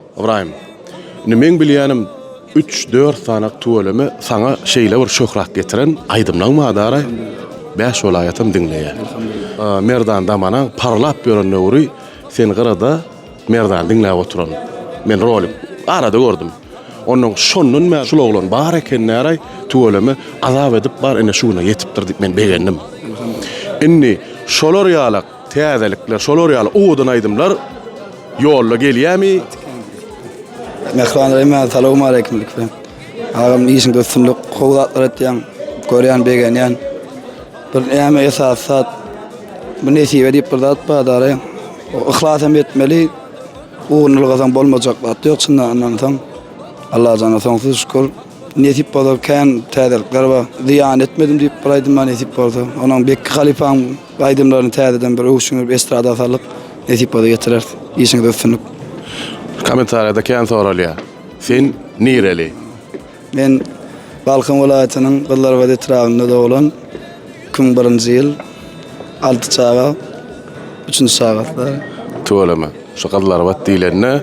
Ybraýym, indi meň bilýänim, üç-dört sany tüweleme saňa şeýle bir şöhrat getiren aýdymlaň bar dara, bäş welaýatam diňleýär. Merdan Damanaň parlap ýören döwri sen gyrada Merdany diňläp oturan. Men rolik arada gördüm. Onnoň şondan bäri şul oglan bar eken dara, tüweleme azap edip bar ine şu güne ýetipdir diýip men begendim. Indi şolar ýalak Täzelikler şolar ýaly owadan aýdymlar ýolda gelýämi. Mähriban Reýmen salowmaleýkim ilki bilen. Agam işiňde üstünlik, gowy zatlar etýäň. Görýän, begenýän. Bir näme esasy zat bu nesibe diýip bir zat bar dary. O yhlas hem etmeli. Ugruny ylgasaň bolmajak zat ýok çyndan ynansaň. Allajana soňsuz şükür. Nesip bolsa kän täzelikler bar. Zyýan etmedim diýip bir aýdym bar nesip bolsa. Onuň Bekki halypaň Aýdymlaryny täzeden bir öwüş siňdirip estrada salyk nesip bolsa getireris. Işiňizde üstünlik. Kommentariýada kän soralýar. Sen nireli? Men Balkan welaýatynyň Gyzlarbat etrabynda doglan. Iki müň birinji ýyl. Alty çaga. Üçünji çagasy. Tüweleme. Şu Gyzlarbat diýlende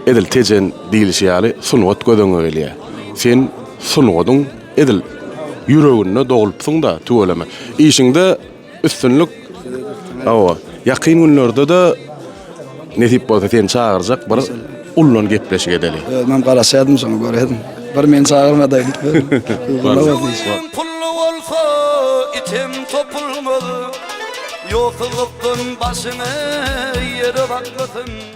edil Tejen diýlişi ýaly sungat göz öňüňe gelýär. Sen sungadyň Edil ýüreginde doglupsyňda tüweleme. Işiňde üstünlik hawa ýakyn günlerdede nesip bolsa seni çagyrjak bir ullan gepleşik edeli. Özümem garaşýadym şoňa göräýdim. Bir meni çagyrmadaýyp. Ýüregim pully bolsa item topulmaz. Ýogsuzlykdan başyňy ýere bakmasyn.